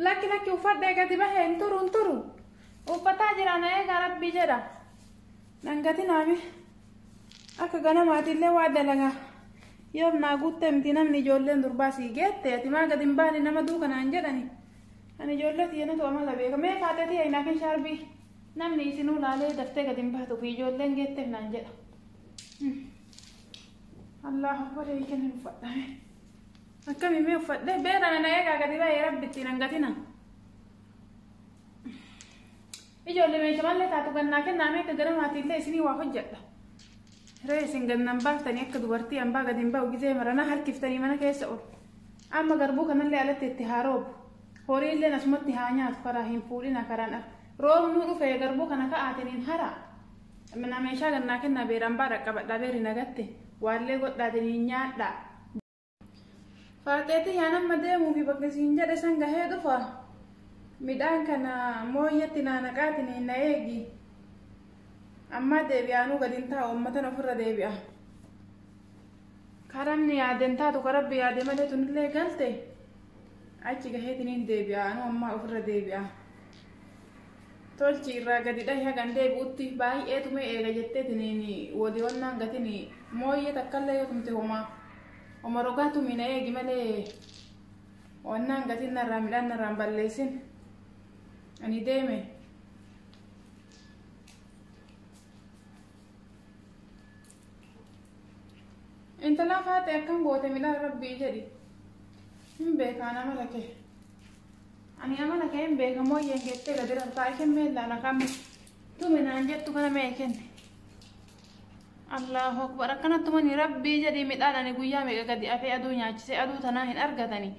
lakki lakki uffadhee gadi bahee hin turu hin turu uffataa jira na eegaa rabbii jedha dhangati naami akka ganamaatiillee waa dalagaa yoo naa guuttee miti namni ijoolleen durbaa sii geette ati maa gadi hin baane nama duuka naan jedhani ani ijoollee tiyyeenatu amala beeka mee kaatee tiyya hin hafin shaarbii namni isinuu laalee daftee gadi hin baatu fi ijoolleen geetteef naan jedha. Allahu akbar eegan hin uffadhame. Akkami mee uffadhe beera na eegaa gadi baay'ee rabbi ittiin hangatina. Ijoollee meesha mallee taatu gannaa kennaa mee akka ganamaati illee isinii waa hojjedha. Ree isin gannan baaftanii akka dubartii hambaa gadi hin ba'u gizee maranaa harkiftanii mana keessa ol. Amma garbuu kanallee alatti itti haa roobu. Horii illee asumatti haa nyaatu karaa hin fuudhina karaan roobnuu dhufee garbuu kana ka'aatiin hin haraa. Minaa meeshaa gannaa kennaa beeraan baa dhaqqabadhaa beeri nagatte waallee godhaatanii nyaadhaa. Faaxee tiyyaan amma deemuufi bakka siin jedhe san gahee dhufa. Midhaan kana mooyyeetti naa naqaatiniin na eegi. Ammaa deebi'aanuu gad hin taa'u ammatan ofirra deebi'a. Karaa inni yaade hin taatu ka rabbi yaade malee tunillee galte achi gaheetiniin deebi'a anuu ammaa ofirra deebi'a. Tolchi irraa gadi dhahi hagan deebi'utti baay'ee tumee eega jetteetiniin woli onnaan gatini mooyyee takkallee yoo tumte homaa homa rogaa tumi na eegi malee onnaan gatiin narraa midhaan narraan balleessin ani deeme. Intalaa faaxee akkam goote midhaan rabbii jedhi hin beekaan amala kee. Ani amala kee hin beeka mooyyeen kee tele biran taa'e kennee illaan akkaam tume naan jettu kana mee kenne. Allahu akbar akkana tumanii rabbii jedhii midhaan ani guyyaa meeqa gadi afee aduu nyaachisee aduu tanaa hin argatanii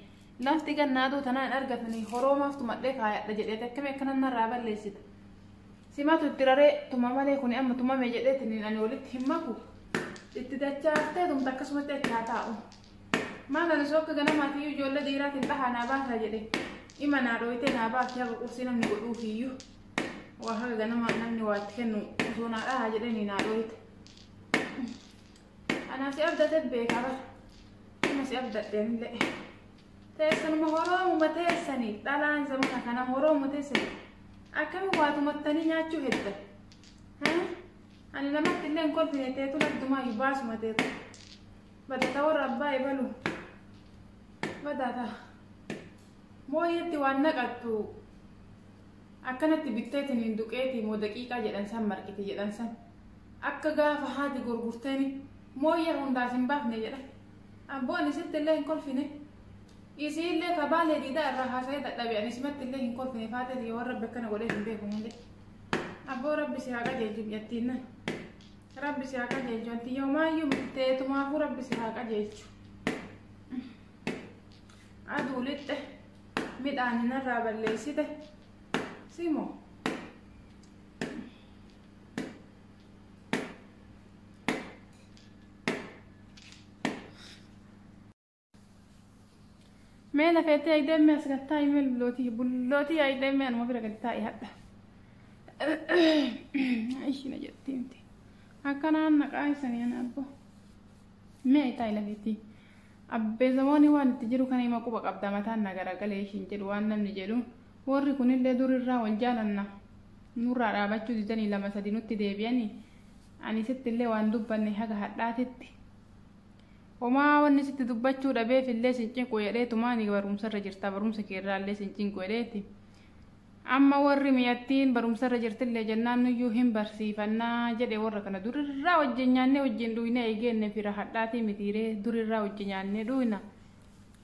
lafti ganna aduu tanaa hin argatanii horoomaaf tumadhee kaayadha jedheeti akkami akkana narraa balleessita. Simatu itti raree tuma malee kuni amma tumame jedheetiin ani walitti hin maku itti dachaaftee tumta akkasumatti achi haa taa'u. Maal ani soo akka ganamaati iyyuu ijoollee dhiiraatiin dhahaa naa baasaa jedhe ima naa dhooytee naa baasee haga qursii namni godhuuf iyyuu waa haga ganama namni waa itti kennu osoo naa dhahaa jedhanii naa dhooyte. Anaa si abdate beekaa bara. Amma si abdadhe anillee. Teessanuma horoomuma teessanii dhalaan zamana kana horoomu teessanii akkami waa tumattanii nyaachuu hedda. Ani namatti illee hin kolfine teetu laddumaa baasuma teetu. Badata warra abbaa ebalu. Badata. Mooyeetti waan naqattu akkanatti bitteetiin hin duqeetii moo daqiiqaa jedhan san marqiti jedhan san. Akka gaafa haati gurgurteeni mooyyee hundaas hin baafne jedha. Abboo ani sitti illee hin kolfine. Isii illee kabaalee diidaa irraa haasa'ee dadhabe ani simatti illee hin kolfine faatee yoo rabbi akkana godhee hin beeku hin jedhe. Abboo rabbi si haa qajeelchu biyyattiin. Rabbi si haa qajeelchu ati yoomaayyuu murteetumaafuu rabbi si haa qajeelchu. Aduu lixxe midhaan narraa balleessite simoo. Mee lafeettee ayideemmee as gad taa'i mee bullootii bullootii ayideemmee anuma bira gad taa'i hadha. Ishina jetti miti. Akkanaan naqaa isanii ana abbo. Mee taa'i lafeettii. Abbee zamooni waan itti jiru kana hima quba qabda mataan na garagalee ishiin jedhu waan namni jedhu warri kunillee durirraa wal jaalanna. Nurraa dhaabachuu didanii lama sadi nutti deebi'anii ani sittillee waan dubbanne haga hadhaatitti. Homaa wanni sitti dubbachuu dhabeef illee sin cinqu jedheetumaa ni barumsarra jirta barumsa keerraa illee sin cinqu jedheeti. Amma warri miyattiin barumsarra jirtillee jennaan nuyyuu hin barsiifannaa jedhe warra kana durirraa wajjin nyaannee wajjin dhuynee eegeenne fira hadhaatii mitiiree durirraa wajji nyaannee dhuyna.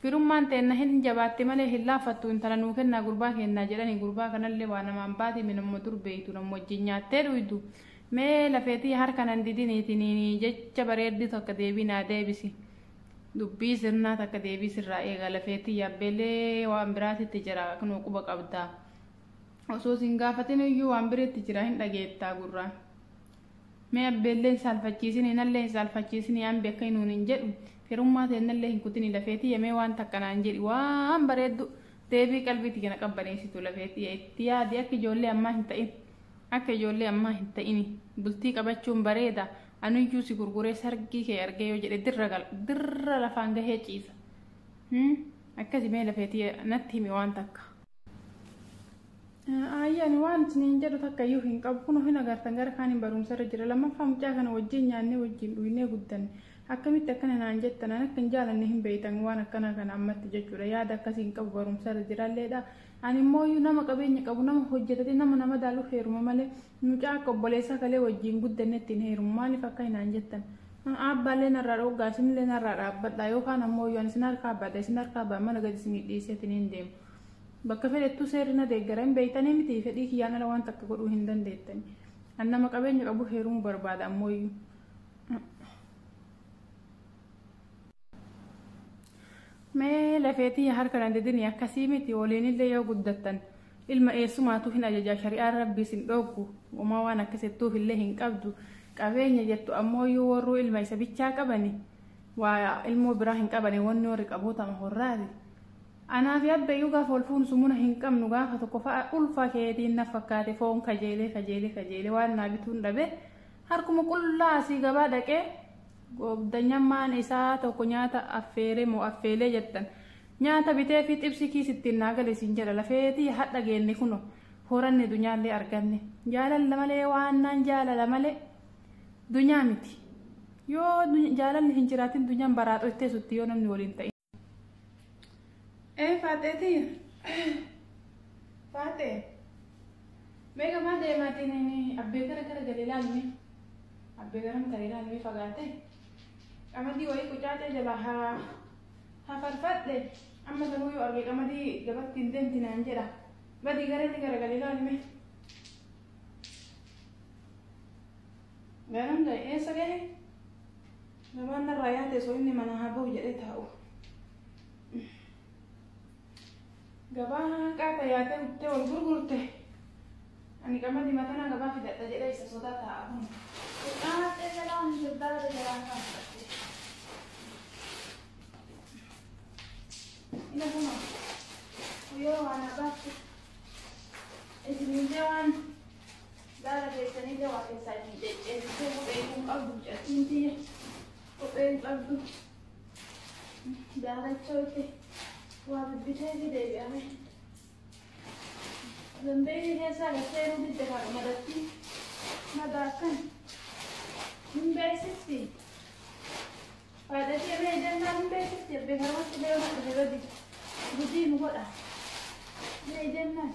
Firummaan teenna hin jabaatti malee hin laaffattu intala nuu kennaa gurbaa keennaa jedhani gurbaa kanallee waa namaan baati minamma dur beeytu nam wajjin nyaattee dhuydu Mee lafee tiya harka nan didini tiniini jecha bareeddu takka deebii naa deebisi dubbii sirnaa takka deebii sirraa eega lafee tiya abbeelee waan biraatitti jira knoo quba qabda osoo sin gaafatinuyyuu waan biritti jira hin dhageetta gurraan mee abbeellee hin saalfachiisini nallee hin saalfachiisini ambi akka hinuun hin jedhu firummaa teennallee hin kutini lafee tiya mee waan takka naan jedhi waan bareeddu deebii qalbii tiya na qabbaneessitu lafee tiya itti yaadi akka ijoollee ammaa hin ta'in Akka ijoollee ammaa hin ta'ini. Bultii qabachuun bareeda. Anuyyuu si gurguree sargii kee argee yoo jedhe dirra gala. Dirra lafaan gahee ciisa. Hmm? Akkasi mee lafee tiyya natti himi waan takka. Aayyi ani waan isiniin jedhu takka iyyuu hin qabu. Kunoo hin agartan gara kaaniin barumsa irra jira. Lammaffaa mucaa kana wajjin nyaannee wajjin dhugnee guddanne. Akkamitti akkana naan jettan? An akka hin jaalanne hin beektan waan akkanaa kana ammatti jechuudha. Yaada akkasii hin qabu barumsa irra jiralleedha. Ani immooyu nama qabeenya qabu nama hojjetate nama na madaaluuf heeruma malee mucaa akka obboleessaa kalee wajjiin guddannetti hin heerumu maaliif akkai naan jettan aabbaallee narraa dhooggaa isinillee narraa dhaabbadhaa yoo kaan ammooyu ani isin harkaa bada isin harkaa baan mana gadi isinii dhiisee tiniin deema bakka fedhettuu seerri na deeggara hin beeytanii miti fedhii kiyyaan ala waan takka godhuu hin dandeettani an nama qabeenya qabu heerumu barbaada ammooyu Mee lafee tiyya harka na didini akkasii miti woliinillee yoo guddattan ilma eessumaatu hin ajajaa shari'aan rabbiis hin dhooggu womaa waan akkas jettuufillee hin qabdu qabeenya jettu ammooyyuu worruu ilma isa bichaa qabani waa ilmoo biraa hin qabani wonni worri qabuu tama horraati anaafi abbeeyyuu gaafa wol fuunu sumuna hin qabnu gaafa tokko fa'a ulfa keetiin naf fakkaate foon kajeelee kajeelee kajeelee waan naa bituun dhabe harkuma qullaa asii gabaa dhaqee Goobdanyammaan isaa tokko nyaata affeere moo affeelee jettan. Nyaata bitee fi xibsii kiis ittiin naa gale siin jedha. Lafee tiyya hadha geenne kuno. Horanne dunyaallee arganne. Jaalalla malee waannaan jaalala male dunyaa miti. Yoo jaalalli hin jiraatin dunyaan baraaxo hin teesutti yoo namni waliin ta'in. Ee faaxee tiyya. Faaxee. Mee gamaa deemaatiin inni abbee gara gara galee laalme. Abbee garam taree laalme fagaate. Qamadii wayii qucaacee jalaa haa haa farfadhe. Amma garuu yoo arge qamadii gabatti hin deemti naan jedha. Badii gara inni gara galee laalme. Garam ga'e eessa ga'e? Gabaan narraa yaate osoo inni manaa haa bahu jedhee taa'u. Gabaa hanqaa ta yaatee guttee wal gurgurte. Ani qamadii matanaa gabaa fidadha jedhee isa sodaa taa'a kun. Nyaatee jalaa hin jirdaate jalaa kaa fudhatte. Ina kuma guyyoo waan abaatti. Isin hin jawaan. Gaara geessanillee waa keessaa isin cecceessitee kophee iyyuu hin qabdu mucattiin tiyya. Kophee hin qabdu. Daarachoo itti waa bibbitee fi deebi'ame. Zambeelii keessaa gad seenuu didde haadha madattii. Madaa akkan hin beeksifti. Faayidashee mee jennaan hin beeksifti. Abbee garamatti deemuuf dhufe badii. Gudii nu godha. Mee jennaan.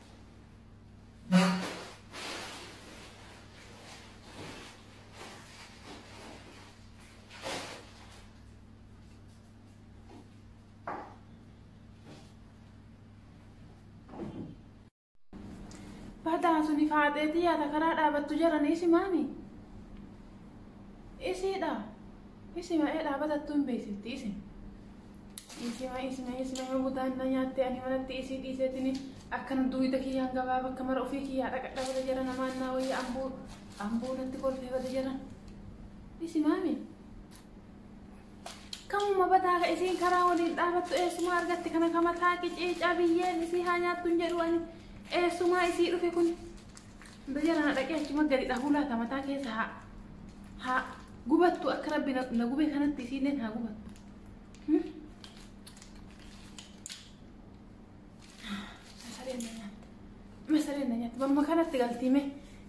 Badaa suni faaxeetii yaada karaa dhaabattu jaranii isi maani? Isiidha. Isi ma'ee dhaabatattu hin beeksifti isi. Isima isima isima yoo butaan na nyaatte ani manatti isii dhiiseetini akkan duuyda kiyyaan gabaa bakka mara ofii kiyyaa dhaqadha bada jara namaan naa wayya ambuu ambuu natti kolfee bada jara. Isimaami. Kamuma badaa ka isiin karaa waliin dhaabattu eessuma argatti kana kama taaqi ciicaa biyyeen isii haa nyaattu hin jedhu ani eessumaa isii dhufe kun. Bada jara na dhaqee achuma gadi dhahuu laata mataa keessa haa haa gubattu akka rabbi na na gube kanatti isiilleen haa gubattu. Masareen na nyaatti. Mamma kanatti galtii mee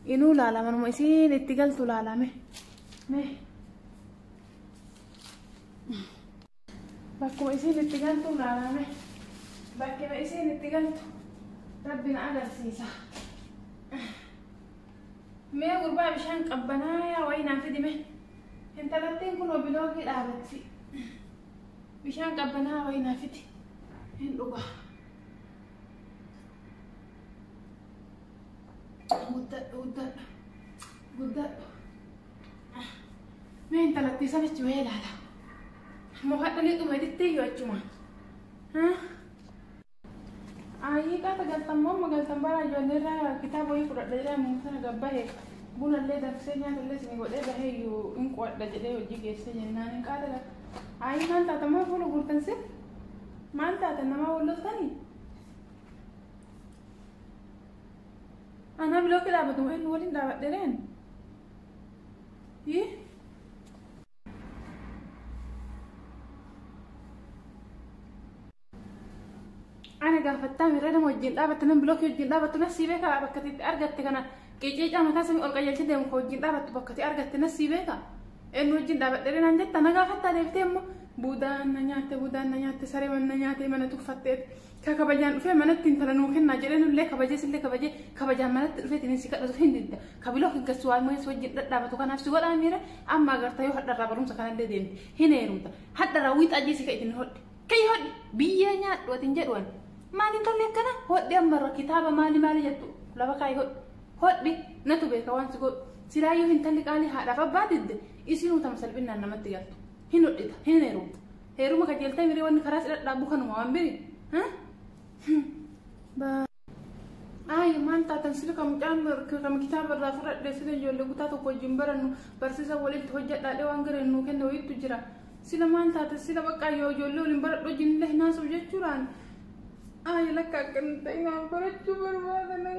inuu laalama numa isiin itti galtu laalame. Mee. Bakkuma isiin itti galtu laalame. Bakkuma isiin itti galtu rabbi na agarsiisa. Mee gurbaa bishaan qabbanaayaa wayii naa fidi mee. Intalattiin kunoo biloogii dhaabatti. Bishaan qabbanaa wayii naa fidi. Hin dhugaa. Guddadhu guddadhu. Guddadhu. Mee intalattii sana achi wayii ilaala. Mohaadhanii dhuma dittee yoo achumaa. Haa? Aayii qaata galtan moomma galtan bara ijoollee irraa kitaaba wayii fudhadha jedhee ammuma sana gabbahe buna illee danfisee nyaata illee isin godhee bahee iyyuu hin qo'adha jedhee hojii geessee jennaan hin qaata galta. Aayii maal taata maal fuula guurtan si? Maal taata namaa wal loltanii? Anaa bilooki dhaabatu inni waliin dhaabadhe reen? Yii? Ana gaafattaa mirra nama wajjin dhaabatte nama bilookii wajjin dhaabattu na sii beekaa bakka itti argatte kana qeeqeecaa mataa samii ol qajeelchee deemu ka wajjin dhaabattu bakka itti argatte na sii beekaa eenyu wajjin dhaabadhee naan jetta na gaafattaa deebitee immoo buudaan na nyaatte buudaan na nyaatte saree mana na nyaatee mana tuffattee ka kabajaan dhufee manatti intala nuu kennaa jedhee nullee kabajee sillee kabajee kabajaan manatti dhufee tinin si kadhatu hin didda ka bilookii gassu waan moo'ee si wajjin dhadhaabatu kanaaf si godhaa miira amma agarta yoo hadharraa barumsa kanallee deemte hin heerumta hadharraa wiixaa jeesii ka itin hodhe Kayyi hodhi biyyee nyaadhu atin jedhu an maal hin tolle akkana hodhi ammarra kitaaba maali maali jettu lafa kaayi hodhi hodhi natu beeka waan si godhu silaayyuu hintalli qaalii haadhaaf abbaa didde isinuu tama salphinnaan namatti galtu hin hodhita hin heerumta heeruma kajeeltee miree wanni karaa si dhadhaabu kanuma waan biri Ayi maal taatan sila ka mucaan ka kitaaba irraa fudhadhe sila ijoollee kutaa tokko wajjin barannu barsiisa walitti hojjedhaadhe waan gareen nuu kenne wayiitu jira. Sila maal taatan sila baqqaa yoo ijoollee waliin baradhu wajjin illee hin haasa'u jechuudhaan. Ayi lakka akka hin ta'in barachuu barbaada.